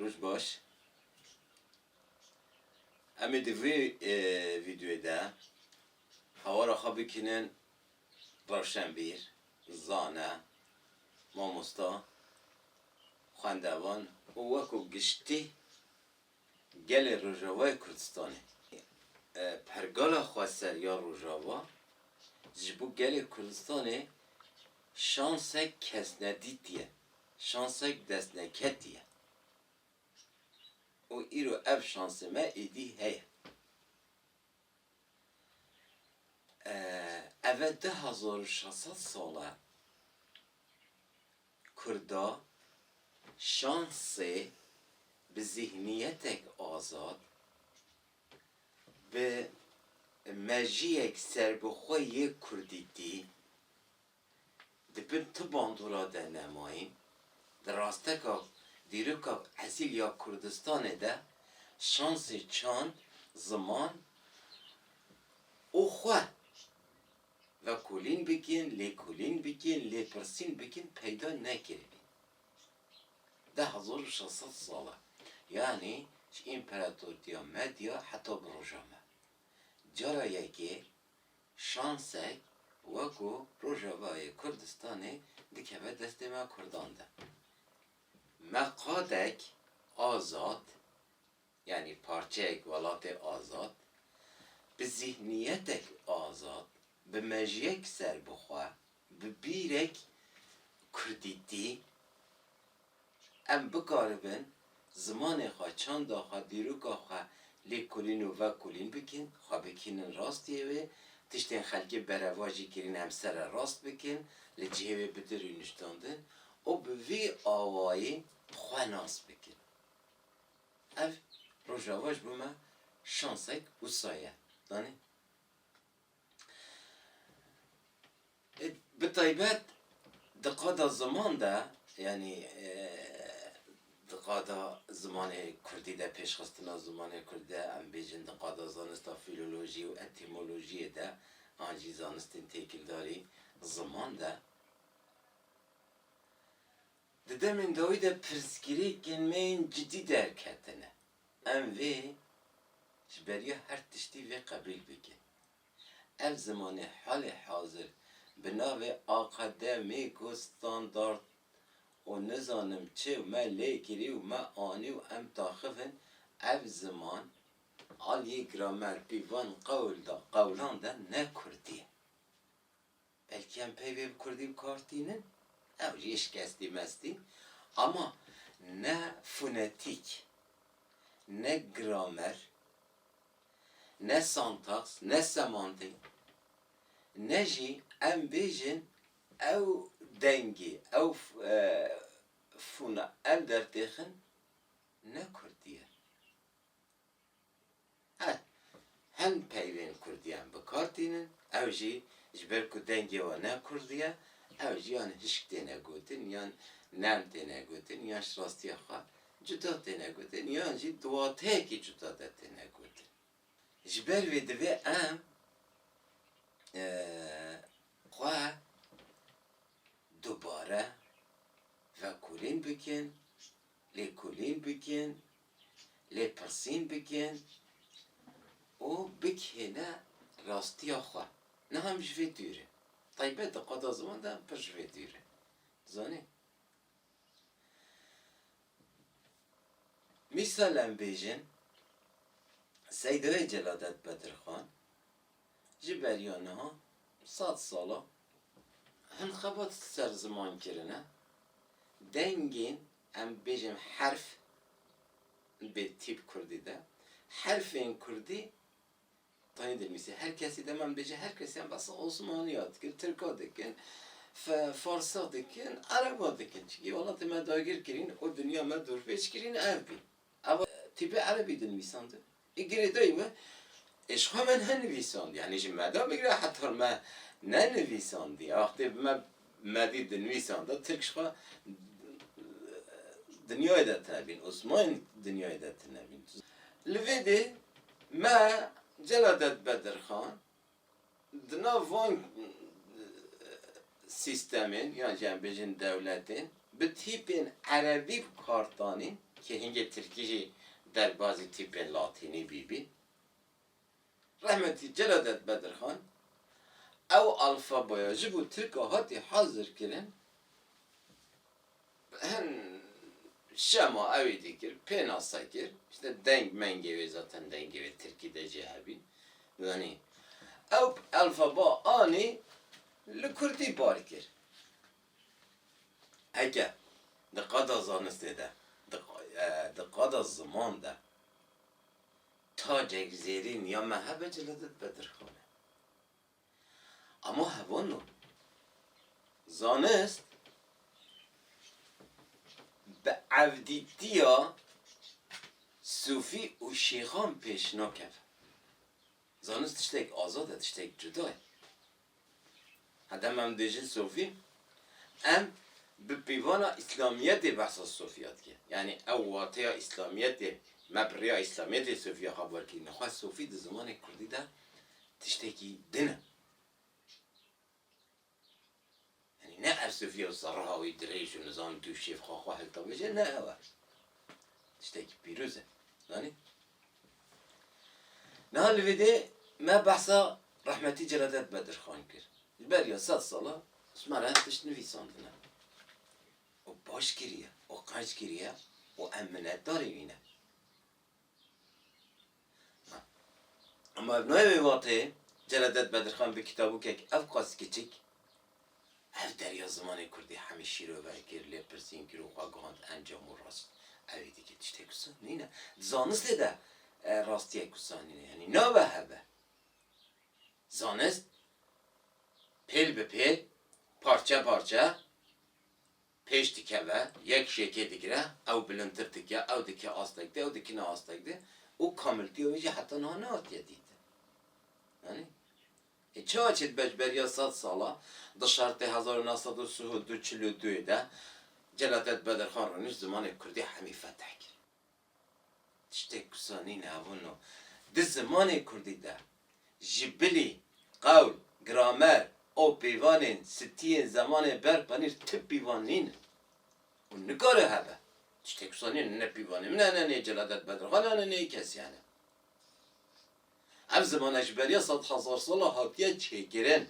Roj baş. Em ê di vê vîdeoyê de hawara xwe bikînin rewşenbîr, zane, mamosta, xwendevan û wekû giştî gelê Rojavayê Kurdistanê. Pergala xweser ya Rojava ji bo gelê Kurdistanê şansek kesnedîtî ye. Şansek destneketî ye û îro ev şansê me êdî heye. Eve du hezar û şeş sed sal e Kurda şansê bi zîhniyetek azad, bi mejiyek serbixwe yê kurdîtî, Di bin tu bandora de nemayîn, di rasteka dîroka esîl ya Kurdistanê de şansê çand, ziman û xwe vekolîn bikin, lêkolîn bikin, lêpirsîn bikin peyda nekiribî. Deh hezar û şeş sed sal e. Yanî ji împeratortiya Medya heta bi roja me. Cara yekê Şansek weko Rojavayê Kurdistanê dikeve destê me Kurdan de. Me qadek azad, yanî parçeyek welatê azad, bi zîhniyetek azad, bi mejiyek serbixwe, Bi bîrek kurdîtî em bikaribin zimanê xwe, çanda xwe, dîroka xwe lêkolîn û vekolîn bikin, xwe bikînin rastiyê wê, tiştên xelkê berevajî kirîn em serre rast bikin, li cihê wê bidir û niştandin û bi vî awayî xwe nas bikin. Ev Rojava ji bo me şansek wisa ye. Danê? Bi taybet di qada ziman de yanî di qada zimanê kurdî de pêşxistina zimanê kurdî de em bêjin di qada zanista fîlolojî û etîmolojîyê de an jî zanistên têkildarî ziman de di demên dawî de pirsgirêkên me yên cidî derketine. Em vê ji beriya her tiştî vê qebîl bikin. Ev zimanê halê hazir bi navê akade mîko standard û nizanim çi û me lê kirî û me anî û em taxif in ev ziman aliyê gramer pîvan qewl da qewlan de ne kurdî ye. Belkî em peyvê bi kurdî bi kar tînin, ew jî şikestî mestî, ama ne fonetîk, ne gramer, ne santaks, ne semantîk, ne jî em bêjin ew dengî, ew fona em dertêxin ne kurdî ye. Eh, hin peyvên kurdiyan bi kar tînin, ew jî ji ber ku dengê wan ne kurdî ye, ew jî yan hişk têne gotin, yan nerm têne gotin, yan ji rastiya xwe cuda têne gotin, yan jî di wateyekî cuda de têne gotin. Ji ber vê divê em xwe dubare vekolîn bikin Lêkolîn bikin, lêpirsîn bikin û bigihêne rastiya xwe. Niha em ji vê dûr in. Taybet di qada ziwan de em pir ji vê dûr in. Zanî? Mîsal em bêjin Seydayê Celadet Bedirxan Ji beriya niha sed sal e hin xebat ser ziman kirine, dengên em bêjin herf bi tîp kurdî de, herfên kurdî tenê dinivîse her kesî dem em bêje her kesî em behsa osmaniya dikin, tirka dikin, farsa dikin, ereba dikin çinkî welatê me dagir kirîn û dinya me dorpêç kirîn ev bî. Ew tîpê erebî dinivîsandin Ê girêdayî me ê ji xwe me nenivîsandî, yanî ji me de bigire heta me nenivîsandî. Wextê bi me Medî dinivîsanda Tirk ji xwe dinyayê de tune bîn, Osmanî dinyayê de tune bîn. Li vê dê me cela de dibe dirxan. Di nav van sîstemên yan jî em bêjin dewletên bi tîpên erebî bi kar tanîn kê hingê tirkî jî derbazî tîpên latînî bîbîn. Rehmetî Celadet Bedirxan ew alfabaya ji bo tirka hatî hazirkirin. Hin şema ewî dikir, pênase kir, îşte deng mengê wê zaten dengê wê tirkî de jî hebî. Zanî ew elfeba anî li kurdî bar kir. Heke di qada zanistê de, di qada ziman de tacek zêrîn ya me hebe cile de dibe dirxan e. Ama hevano zanist bi evdîtiya sûfî û şêxan pêş nakeve. Zanist tiştek azad e, tiştek cuda ye. Hedem em dibêjin sûfî, em bi pîvana îslamiyetê behsa sûfiya dike. Yanî ew wateya îslamiyetê, me bi rêya îslamiyetê sûfiya xwe bi wer kirîne. Xwe sûfî di zimanê kurdî de tiştekî din e. Yanî ne ersifiya serriha wî dirêj û nizam dû şêv xwe xwe hiltewêje ne ew e. Tiştekî pîroz e. Zanî? Niha li vê dê me behsa rehmetî Celadet Bedirxan kir. Ji beriya sed sala me re tişt nivîsandine. Û baş kiriye û qenc kiriye û em minnetdarê wî ne. Ama ev nayê wê vateyê Celadet Bedirxan bi kitabûkek ev qas kiçik ev derya zimanê kurdî hemî şîrove kir, lêpirsîn kir û xwe gihand encam û rast evî dike. Tiştê ku saf nîne. Di zanistê de rastiyek wisa nîne. Yanî nabe hebe. Zanist pêl bi pêl, parçe parçe pêş dikeve, yek jêkê digire, ew bilindtir dike, ew dike astek di, ew dikine astek di û kamiltiya wê jî heta niha nehatiye dîtin. Anî? Ê çawa çê dibe ji beriya sed sala di şertê hezar û neh sed û sih û du çil û duyê de Celadet Bedirxan rûnişt zimanê kurdî hemî fetih kir. Tiştê ku zanîne hebûn o. Di zimanê kurdî de ji bilî, qewl, gramer û pêvanên sitiyên zemanê ber qenîr ti pîvan nîn û nikare hebe. Tiştê ku zanîne ne pîvanê min hene, nê Celadet Bedirxan hene, nê kesî hene. Ev zimane ji beriya sed hezar sal e hatiye çêkirin.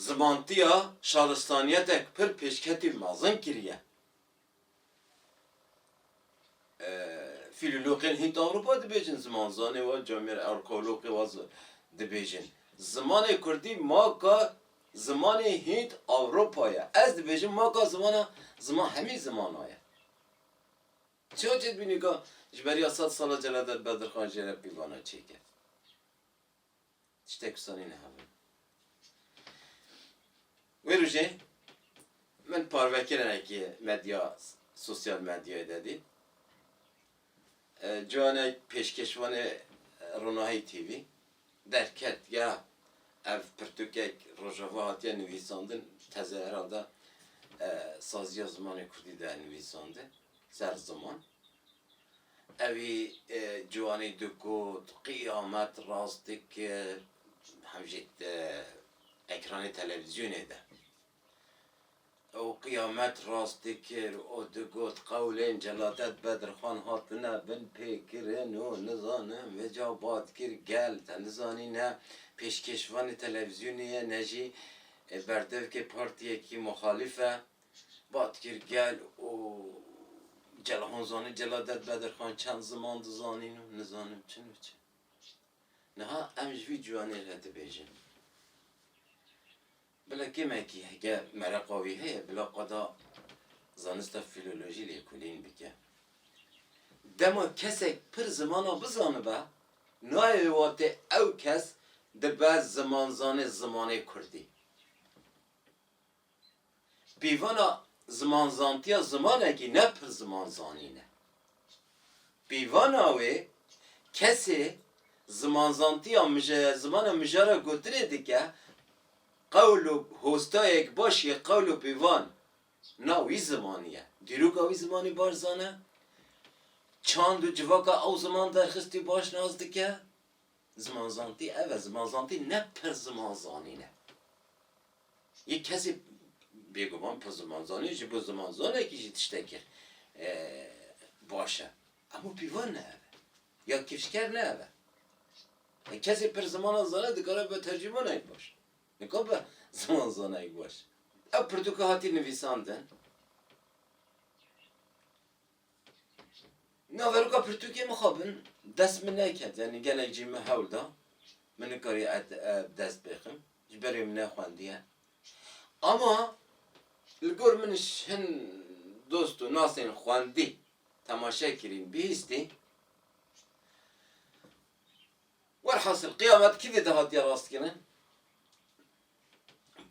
Zimantiya şaristaniyetek pir pêşketî mezin kiriye. Fîloloxên hîn di Ewropa dibêjin, zimanzanê wa, camiyerê arkeoloxê wa dibêjin. Zimanê kurdî maka zimanê hînd Ewropa ye. Ez dibêjim maka zimana ziman hemî zimana ye. Çiya çê dibînî ka ji beriya sed sala Celal Dad Bedirxan jê re pîvana çêkir? Tiştek wisa neyne hev in. Wê rojê min parvekirinekê medya sosyal medyayê de dît. Ciwanek pêşkêşvanê Ronahî TV derket ya ev pirtûkek Rojava hatiye nivîsandin teze heralde saziya zimanê kurdî de nivîsandin ser ziman. Evî ciwanî digot, qîyamet rast dikir, hem jî di ekranê televîzyonê de. Ew qîyamet rast dikir û digot, qewlên Celadet Bedirxan hatine binpêkirin û nizanim Veca Badkir gel te nizanî ne pêşkêşvanê televîzyonê ye ne jî berdevkê partiyekî muxalîf e. Bat kir gel û Celal Han zanî Celal Ded Bedirxan çend ziman dizanîn û nizanim çin û çi. Niha em ji vî ciwanê re dibêjin. Bila kêmekî heke mereqa wî heye bila qada zanista fîlolojî lê kulîn bike. Dema kesek pir zimana bizanibe nayê wê watê ew kes dibe zimanzanê zimanê kurdî. Peyvana zimanzantiya zimanekî ne pir zimanzanîn e. Peyvana wê kesê zimanzantiya mije zimana mija re gotinê dike qewl û hostayek baş yê qewl û peyvan na wî zimanî ye. Dîroka wî zimanî baş zane, çand û civaka ew ziman derxistî baş nas dike. Zimanzantî ev e, zimanzantî ne pir ziman zanîn e. Yê kesê bêguman pir ziman zanîn ji bo zimanzanekî jî tiştek kir baş e. Hemû pîvan ne ev e. Ya kifşker ne ev e. Kesê pir zimanan zane dikare bibe tercîmanayek baş. Nikabe zimanzanayek baş. Ew pirtûka hatî nivîsandin. Naveroka pirtûkê mixabin dest min neket yanî gelek jî min hewl da min nikariye ev bi dest bêxim ji ber wê min nexwendiye. Ama li gor min hin dost û nasên xwendî temaşe kirîn bihîstîn. Welhasil qiyamet kidê dihatiye rastkirin?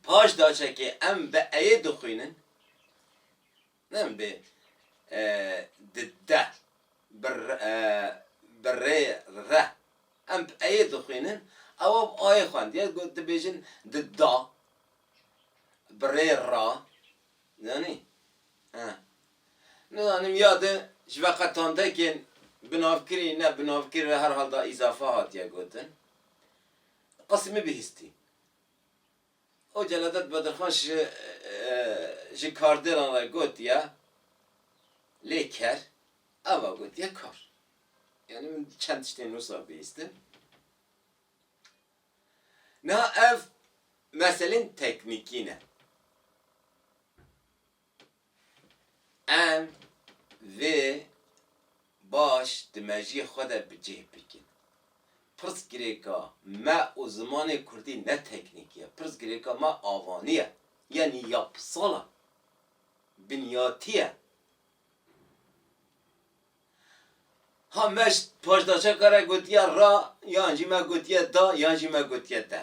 Paş daçekê em bi eyê dixwînin. Ne em bê di deh bi rê re em peyê dixwînin ewa bi ayê xwendiye got dibêjin di da bi rê ra zanî he nizanim ya di ji ve qe tandekên binavkirî ne binavkirî re her hal da îzafa hatiye gotin qisimî bihîstî Xwê Celadet Bedirxan ji ji kardêlan re gotiye lê ker ava gotiye kar. Yanî min çend tiştên nûsa bihîstin. Niha ev meselên teknîkî ne. Em vê baş di mejiyê xwe de bi cih bikin. Pirsgirêka me û zimanê kurdî ne teknîkî ye. Pirsgirêka me avanî ye, yanî yapsal e, binyatî ye. Ha me ji paşdaşeka re gotiye ra, yan jî me gotiye da, yan jî me gotiye de.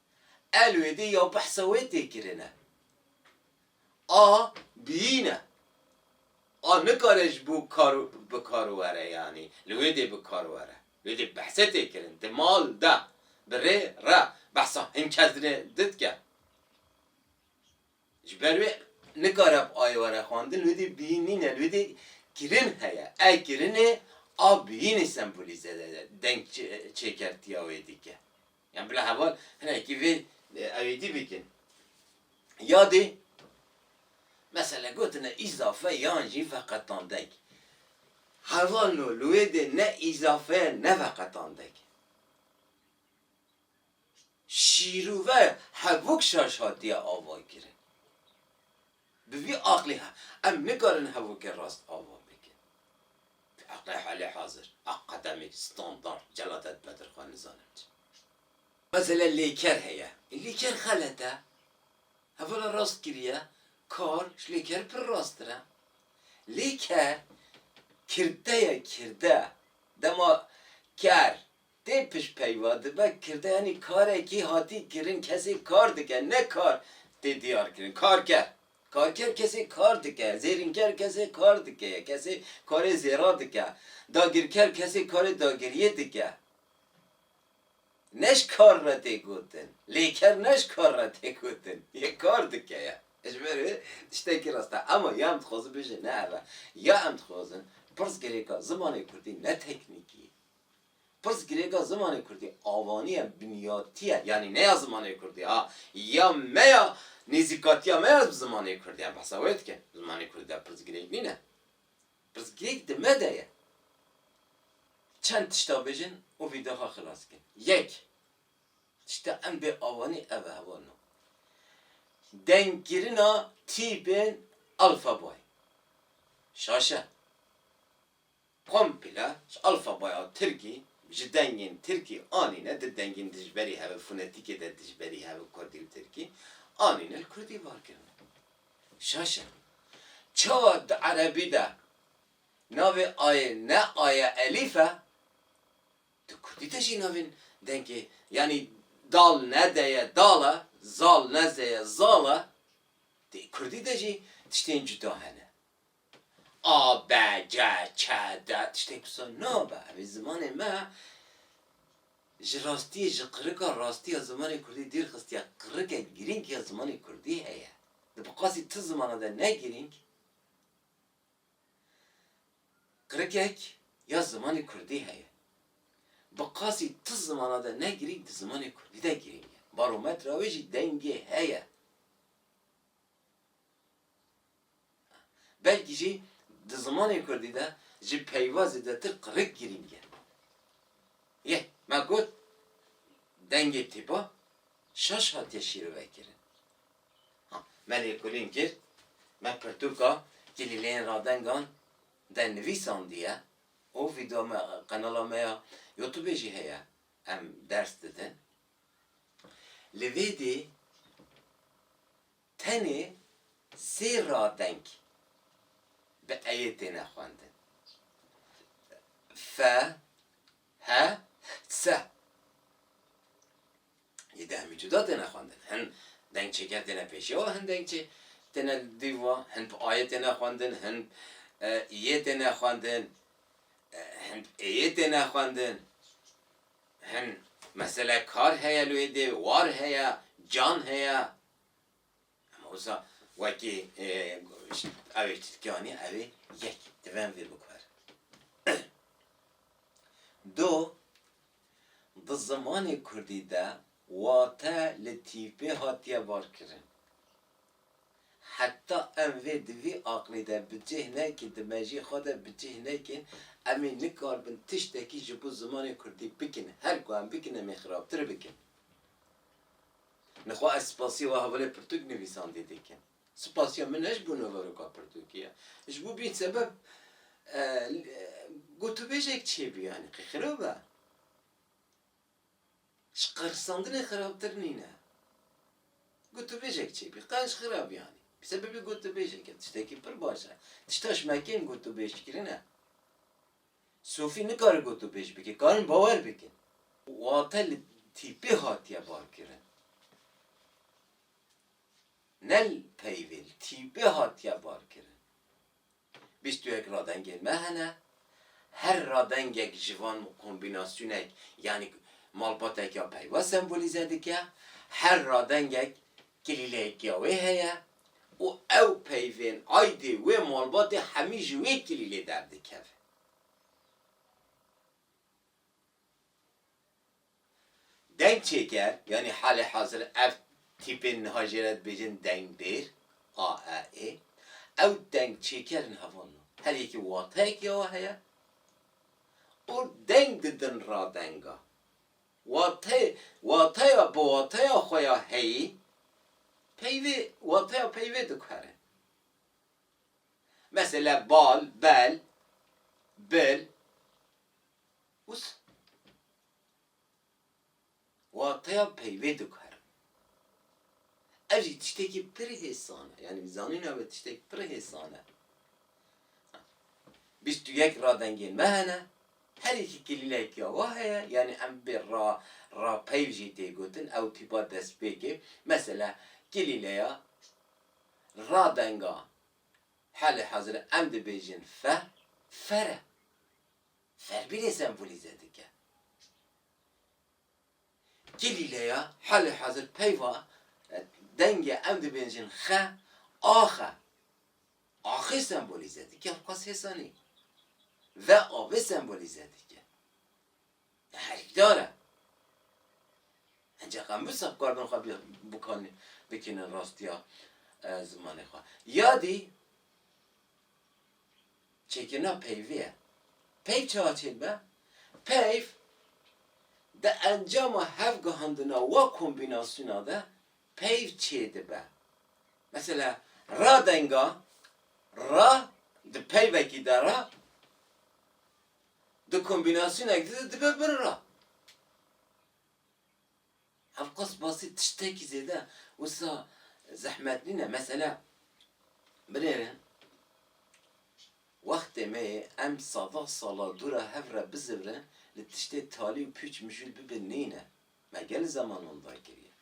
Elwêdî ya behsa wê tê kirine. A biyîne. A nikare ji bo kar bi kar were yanî li wê dê bi kar were. Wê dê behse tê kirin. Di mal de, bi rê re behsa hin kes dinê didke. Ji ber wê nikare bi ayê were xwendin. Li wê dê biyîn nîne. Li wê dê kirin heye. A kirinê a biyînê sembolîze deng çêkertiya wê dike. Yan bila heval hinekî vê ewêdî bikin. Ya dê mesela gotine îzafe yan jî veqetandek. Heval no li wê dê ne îzafe ye ne veqetandek e. Şîrove hevok şaş hatiye avakirin. Bi vî aqlê em nikarin hevokê rast ava bikin. Bi aqlê halêhazir, akademîk, standard, Celadet Bedirxan nizanim çi. Mesela lêker heye. Lêker xelet e. Hevala rast kiriye. Kar ji lêker pir rasttir e. Lêker kirdeye kirde. Dema ker Tê pişt peyva dibe kirdeyanî karekî hatî kirin kesê kar dike ne kar tê diyar kirin karker. Karker kesê kar dike, zêrînker kesê kar dike ye kesê karê zêra dike, dagirker kesê karê dagiriyê dike. Ne ji kar re tê gotin. Lêker ne ji kar re tê gotin. Yê kar dike ye. Ji ber wê tiştekî rast e. Ema ya em dixwazin bêjin ne ev e. Ya em dixwazin pirs girêka zimanê kurdî ne teknîkî, Pirsgirêka zimanê kurdî avaniya binyatî ye, yanî ne ya zimanê kurdî ha, ya me ya nêzîkatiya me ya bi zimanê kurdî em behsa wê dikin. Zimanê kurdî de pirsgirêk nîne. Pirsgirêk di me de ye. Çend tişta bijîn û vî de xwe xilas bikin. Yek, tişta em bê avanî ev e hewa no. Dengkirina tîpên alfabayê. Şaşe. Komple ji alfabaya tirkî ji dengên tirkî anîne di dengên dijberî hev fonetîkê de dijberî hev kurdî û tirkî anîne li kurdî var kirine. Şaş e. Çawa di erebî de navê ayê ne aye elîf e, di kurdî de jî navên dengê yanî dal ne de ye dal e, zal ne ze ye zal e, di kurdî de jî tiştên cuda hene. A, B, C, Ç, D tiştên ku sor nabe em ê zimanê me ji rastiyê ji qirika rastî ya zimanê kurdî dîr xistiye. Qirikek girîng ya zimanê kurdî heye. Di bi qasî ti zimana de ne girîng qirikek ya zimanê kurdî heye. Bi qasî ti zimana de ne girîng di zimanê kurdî de girîng e. Barometra wê jî dengê heye. Belkî jî di zimanê kurdî de ji peyva zêdetir qirêk girîng e. Yê me got dengê tîpa şaş hatiye şîrovekirin. Ha me lêkolîn kir, me pirtûka Kilîleyên Radengan dernivîs zandiye û vîdeoya me qenala me ya Youtubê jî heye em ders didin. Li vê dî. Tenê sê radeng bi eyê têne xwendin, fe, he, se. Yê de hemî cuda têne xwendin. Hin deng çêker têne pêşiya wan, hin deng çê têne li dîv wan. Hin bi ayê têne xwendin, hin bi iyê têne xwendin, hin bi êyê têne xwendin. Hin mesele kar heye li wê dêvê, war heye, can heye. Ama wisa wekî evê Tirkî anî evê yek divem vê bikwer. Do di zimanê Kurdî de wate li tîpê hatiye barkirin. Heta em vê di vî aqlî de bi cih nekin, di mejî xwe de bi cih nekin, em ê nikaribin tiştekî ji bo zimanê Kurdî bikin. Her ku em bikin em ê xirabtir bikin. Nixwe ez spasîya we hevalê pirtûk nivîsandî dikim. Spasîya min ne ji bo nûveroka pirtûkê ye. Ji bo vîn sebeb gotûbêjek çêbû yanî qey xirab e. Ji qerisandinê xirabtir nîne. Gotûbêjek çêbû qey ji xirab yanî. Bi sebebê gotûbêjek e. Tiştekî pir baş e. Tişta ji me kêm gotûbêjkirin e. Sofî nikare gotûbêj bike, karin bawer bikin. Wate li tîpê hatiye barkirin. Ne li peyvê, li tîpê hatiye barkirin. Bîst û yek radengên me hene, her radengek ji van kombînasyonek yanî malbatek ya peyva sembolîze dike, her radengek Kilîleyeke wê heye û ew peyvên aydê wê malbatê hemî ji wê kilîlê derdikeve. Dengçêker, yanî halê hazir ev tîpên niha jê re dibêjin dengbêr, AEE, ew dengçêker in heval no. Her yekî wateyekî wê heye û deng didin radenga. Wate, wateya bi wateya xwe ya heyî peyvê, wateya peyvê diguhere. Mesele bal, bel, bil, wisa. Wateya peyvê diguhere. Ev jî tiştekî pir hêsan e. Yanî zanîna me tiştek pir hêsan e. Bîst û yek radengên me hene. Herî jî kilîlek ya wa heye, yanî em bê ra ra peyv jî tê gotin ew tîpa destpêkê. Mesela kilîleya ra denga halê hazir e em dibêjin fe, fer e. Ferbîrê sembolîze dike. Kilîleya halê hazir peyva dengê em dibêjin xe, ax e. Axê sembolîze dike li qas hêsanî ve avê sembolîze dike. Herikdar e. Ancak em wisa bi kar bin xwe bikanî bikînin rastiya zimanê xwe. Ya dî çêkirina peyvê ye. Peyv çawa çêdibe? Peyv di encama hevgihandina we kombînasyona de peyv çêdibe. Mesela radenga ra di peyvekî de ra di kombînasyonek de dibe bir ra. Ev qas basî tiştekî zêde wisa zehmet nîn e. Mesela binêrin wextê me yê em sadan sala dû re hev re bizivrin li tiştê talî û pûç mijûl bibin nîn e. Me gel zeman wan dar kiriye.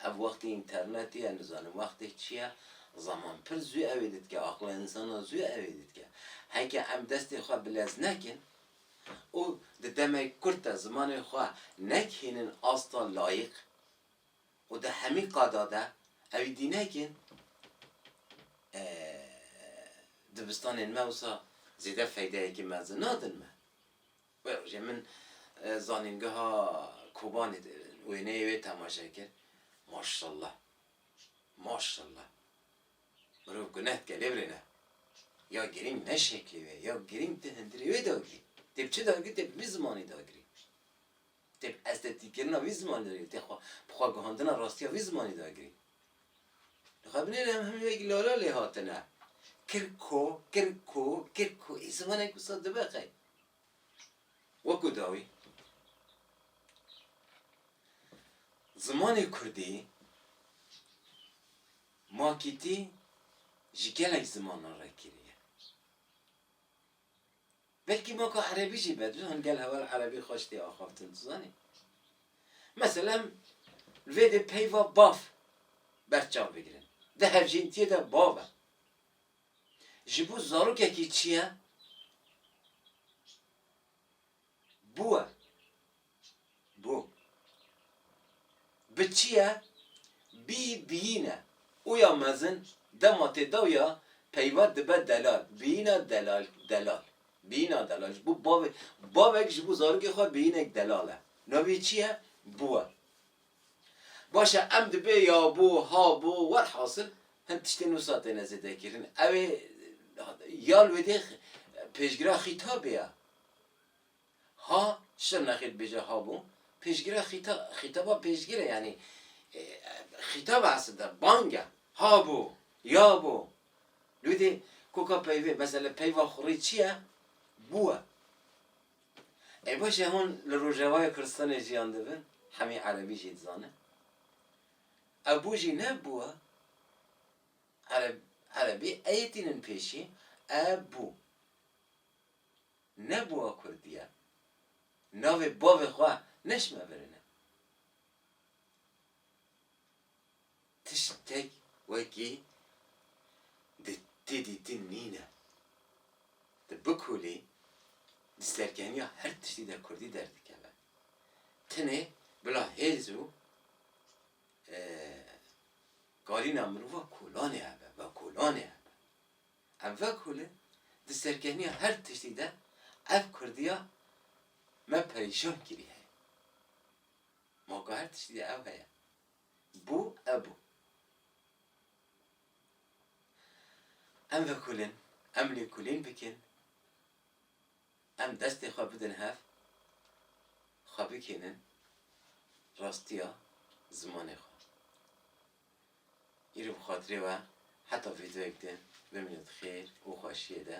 Ev wextê înternetê ye, nizanim wextê çi ye, zeman pir zû ewê didike, aqla însanan zû ewê didike. Heke em destê xwe bi lez nekin û di demek kurt de zimanê xwe nekihînin asta layîq û di hemî qada de ewî dî nekin, dibistanên me wisa zêde feydeyekî mezin nadin me. Wê rojê min zanîngeha Kobanê de wêneyê wê temaşe kir. Maşallah. Maşallah. Mirov guneh dike lê birêne. Ya girîng ne şeklê wê ye. Ya girîng tê hundirê wê dagirî. Tê bi çi dagirî? Tê bi vî zimanî dagirî. Tê bi estetîkkirina vî zimanî dagirî. Tê xwe bi xwe guhandina rastiya vî zimanî dagirî. Li xwe binêrin em hemû wekî lala lê hatine. Kirko, kirko, kirko. Ê zimanek wisa dibe qey. Wekû dawî zimanê kurdî makîtî ji gelek zimanan re kiriye. Belkî maka erebî jî be, tu zanî gel heval erebî xweş tê axaftin, tu zanî. Mesela em li vê dê peyva bav berçav bigirin. Di hevjîntiyê de bav e. Ji bo zarokekî çi ye? Bû e. Bû. Bi çi ye? Bî, biyîn e. Oya mezin, dema tê daw ya, peyva dibe delal. Biyîna delal, delal. Biyîna delal. Ji bo bavê, bavek ji bo zarokê xwe biyînek delal e. Navê wî çi ye? Bû e. Baş e em dibê ya bo, ha bo, werhasil hin tiştên wisa têne zêdekirin. Ew ê ya li wê dê pêşgira xîtabê ya. Ha, Şirnexê dibêje ha bo, pêşgira xîta, xîtaba pêşgir e yanî xîtab e eslda, bang e. Ha bo, ya bo. Li wê dê koka peyvê, mesele peyva xurê çi ye? Bû e. Ê baş e hûn li Rojavayê Kurdistanê jiyan dibin, hemî Erebî jî dizanin. Ev bû jî ne bû e. Ereb, Erebî eyê tînin pêşî, e bû. Ne bû e Kurdî ye. Navê bavê xwe neşmevirine. Tiştek wekî di tê dîtin nîne. Di bikulî di serkeniya her tiştî de kurdî derdikeve. Tenê bila hêz û kalîna mirova kolanê hebe, vekolanê hebe. Ev vekol in di serkeniya her tiştî de ev kurdiya me perîşan kirî heye. Ma ku her tiştî de ew heye. Bû ew bû. Em vekulin, em lêkolîn bikin, em destê xwe bidin hev, xwe bikênin rastiya zimanê xwe. Îro bi xatirê we heta vîdeoyek din bimînin di xêr û xweşiyê de.